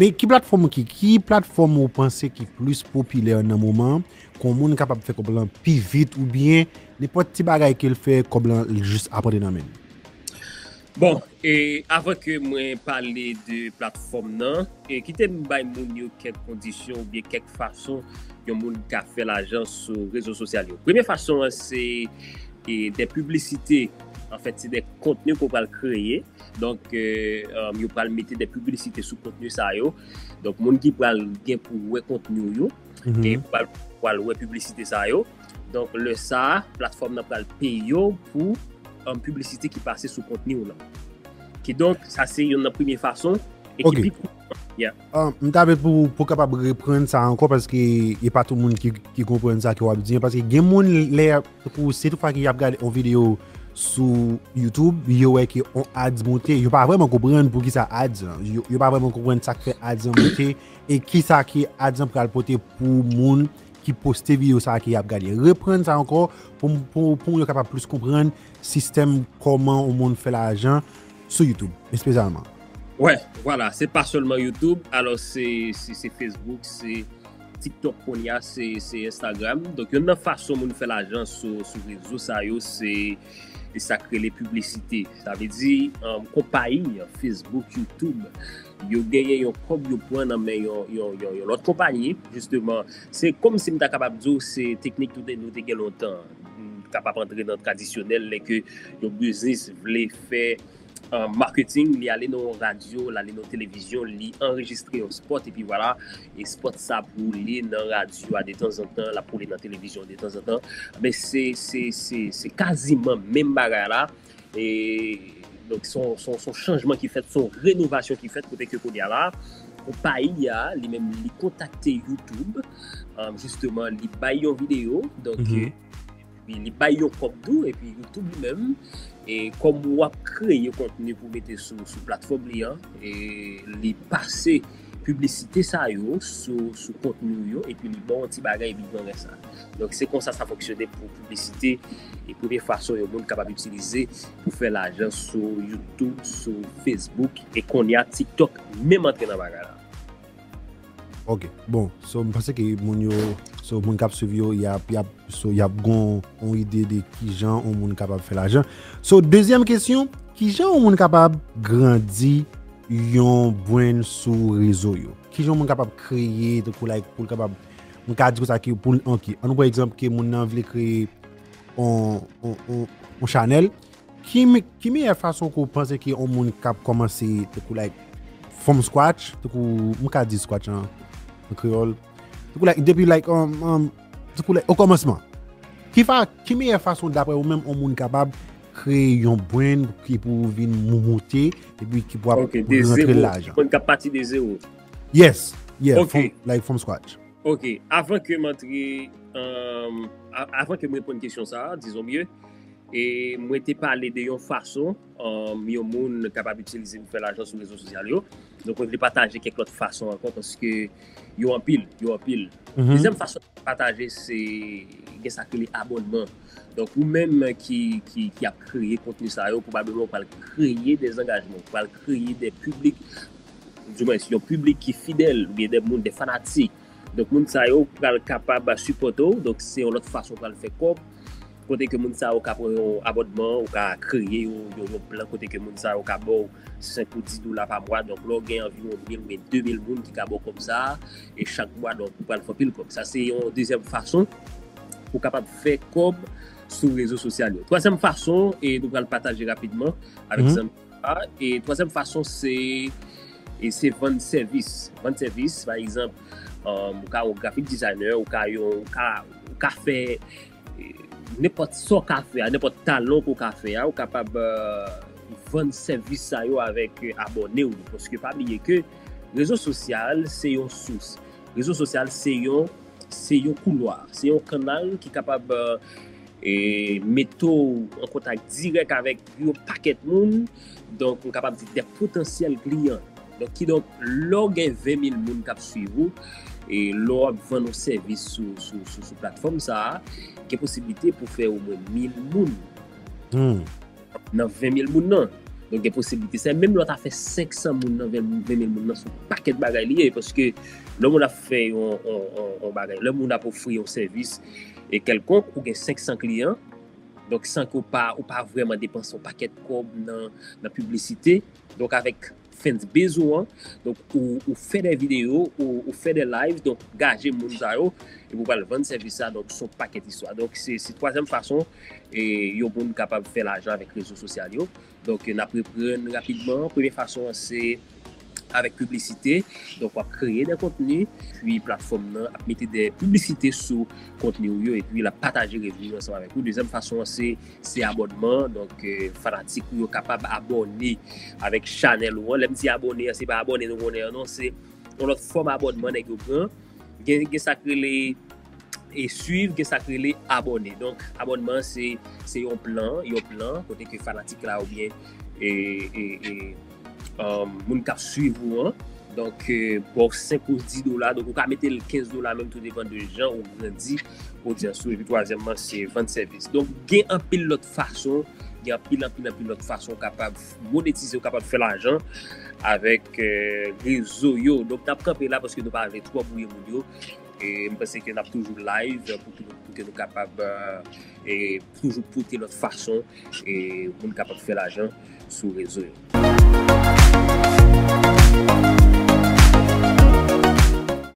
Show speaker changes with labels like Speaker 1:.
Speaker 1: Men ki platfòm ok, ki platfòm ou panse ki plis popilè nan moman an, kon moun kapab fè kòb lan pi vit ou byen nenpòt ti bagay ke l fè kòb lan l jis ap rantre nan men l? Bon,
Speaker 2: e avan ke mwen pale de platfòm nan, e kite m bay moun yo kèk kondisyon ou byen kèk fason yon moun ka fè lajan sou rezo sosyal yo. Premye fason an se E de piblisite, an fèt se de kontni ke w pral kreye, donk yo pral mete de piblisite sou kontni sa yo, donk moun ki pral gen pou wè kontni ou yo, e pral wè piblisite sa yo, donk lè sa, platfòm nan pral peye w pou piblisite ki pase sou kontni ou lan. Kidonk, sa se yon nan premye fason, e ki pi kou. M ta vle pou
Speaker 1: ou kapab reprann sa ankò paske e pa tout moun ki konprann sa ke w ap di an. Paske gen moun lè y ap, tankou se tout fwa ke y ap gade yon videyo sou YouTube, yo wè ke yon ads monte, yo pa vreman konprann pou ki sa ads lan. Yo pa vreman konprann sa k fè ads lan monte e ki sa ke ads lan pral pote pou moun ki poste videyo sa ke y ap gade. Reprann sa ankò pou moun yo kapab plis konprann sistèm kòman yon moun fè lajan sou youtube espesyalman. Wè,
Speaker 2: vwala, se pa sèlman youtube, alò se facebook, se tiktok kounye a, se instagram, donk youn nan fason moun fè lajan sou rezo sa yo se sa k rele piblisite, sa vle di konpayi facebook, youtube yo genyen yon kòb yo pran nan men yon lòt konpayi jisteman, se kòmsi m ta kapab di w se teknik nou te gen lontan. kapab antre nan tradisyonèl lè ke yon biznis vle fè marketing, li ale nan yon radyo, li ale nan televizyon, li anrejistre yon spot, epi vwala, e spot sa ap woule nan radyo a detanzantan, l ap woule nan televizyon detanzantan, men se kaziman menm bagay la, Donk se yon chanjman ki fèt, se yon renovasyon ki fèt kote ke kounye a la, konpayi a li menm li kontakte YouTube jisteman li bay yon videyo, donk li bay yon kòb tou epi YouTube li menm kòm wap kreye kontni pou mete sou platfòm li an li pase. piblisite sa yo sou kontni w yo epi li ba w yon ti bagay epi pran rès la. Donk se konsa sa fonksyone pou piblisite e premye fason yon moun kapab itilize pou fè lajan sou YouTube, sou Facebook e kounye a TikTok menm antre nan bagay la.
Speaker 1: Ok bon so m panse ke moun yo so moun kap swiv yo yap yap so yap gon yon ide de kijan yon moun kapab fè lajan. So dezyèm kesyon kijan yon moun kapab grandi yon brand sou rezo yo. Kijan moun kapab kreye tankou like poul kapab mwen ka di konsa ke poul ok an nou pran egzanp ke moun nan vle kreye yon chanèl ki meyè fason ke ou panse ke yon moun kap kòmanse tankou like from scratch tankou mwen ka di scratch an kreyòl tankou like depi like tankou like o kòmansman ki meyè fason daprè ou menm yon moun kapab Kreye yon brand ki pou vin moumoute epi ki pou ap Ok, de rantre zewo. lajan. Mwen kap pati de zewo.
Speaker 2: Yes,
Speaker 1: yeah, Ok. from, like from scratch. Ok, avan
Speaker 2: ke m antre, um, a- avan ke m reponn kesyon sa a, dizon byen, e mwen te pale de yon fason um, yon moun kapab itilize pou fè lajan sou rezo sosyal yo. Donk mwen vle pataje kèk lòt fason ankò paske yo anpil, yo anpil. Mhm. Dezyèm fason mwen pataje se gen sa ki rele abònman. Donk ou menm ki ki ap kreye kontni sa yo pwobableman ou pral kreye de zangajman, ou pral kreye de piblik, di mwens yon piblik ki fidèl oubyen de moun, de fanatik. Donk moun sa yo pral kapab sipòte w, donk se yon lòt fason ou pral fè kòb, kote ke moun sa yo ka pran yon abònman, ou ka kreye yon plan kote ke moun sa yo ka ba w. si se pou 10 dola pa mwa, donk lè w gen anviwon 1000 oubyen 2000 moun ki ka ba w kòb sa a, e chak mwa donk ou pral fè anpil kòb. Sa se yon dezyèm fason ou kapab fè kòb sou rezo sosyal yo. Twazyèm fason e nou pral pataje rapidman avèk zanmi yo la, e twazyèm fason se e se vann sèvis. Vann sèvis pa egzanp ou ka yon graphic designer, ou ka yon ou ka fè. Nenpòt sa w ka fè a, nenpòt talan ke w ka fè a, ou kapab vann sèvis sa yo avèk abòne w yo. Paske pa bliye ke rezo sosyal se yon sous. Rezo sosyal se yon, se yon koulwa, se yon kannal ki kapab mete w an kontak dirèk avèk yon pakèt moun. Donk, m kapab di de potansyèl kliyan. Donk ki donk lè w gen 20 mil moun k ap swiv ou, e lè w ap vann yon sèvis sou platfòm sa a, gen posiblite pou fè omwen mil moun nan 20 mil moun nan. Donk gen posiblite sa. Menm lè w ta fè 500 moun nan 20 mil moun nan, se yon pakèt bagay li ye. Paske lè moun ap fè yon bagay, lè moun ap ofri yon sèvis e kèlkonk, ou gen 500 kliyan, donk san ke w pa vreman depanse yon pakèt kòb nan piblisite, Donk avèk fans base ou an, donk ou fè dè video, ou fè dè live, donk gaje moun sa yo, epi ou pral vann sèvis sa, donk son pakèt istwa. Donk se twazyèm fason yon moun kapab fè lajan avèk rezo sosyal yo. Donk nap reprann rapidman, premye fason an se avèk piblisite, donk wap kreye dè kontni, epi platfòm nan ap mete dè piblisite sou kontni ou yo epi lap pataje revni yo ansanm avèk ou. Dezyèm fason an se Se abònman, donk fanatik ou yo kapab abòne avèk chanèl ou an. Lè m di abòne an, se pa abòne nou konnen an non, se yon lòt fòm abònman nèg yo pran. Gen sa k rele e swiv, gen sa k rele abòne. Donk abònman an se yon plan, yon plan kote ke fanatik la oubyen e. Moun kap swiv ou an. Donk baw 5 ou 10 dola. Donk ou ka metel 15 dola menm tou depan de jan ou grandi odyans ou. Epi twazyèmman se vann sèvis. Donk gen anpil lòt fason. Gen anpil anpil anpil lòt fason ou kapab monetize ou kapab fè lajan avèk rezo yo. Donk nap kanpe la paske nou pa vle twò bwouye moun yo. E mwen panse ke nap toujou live pou ke nou kapab e. toujou pote lòt fason pou n kapab fè lajan sou rezo yo.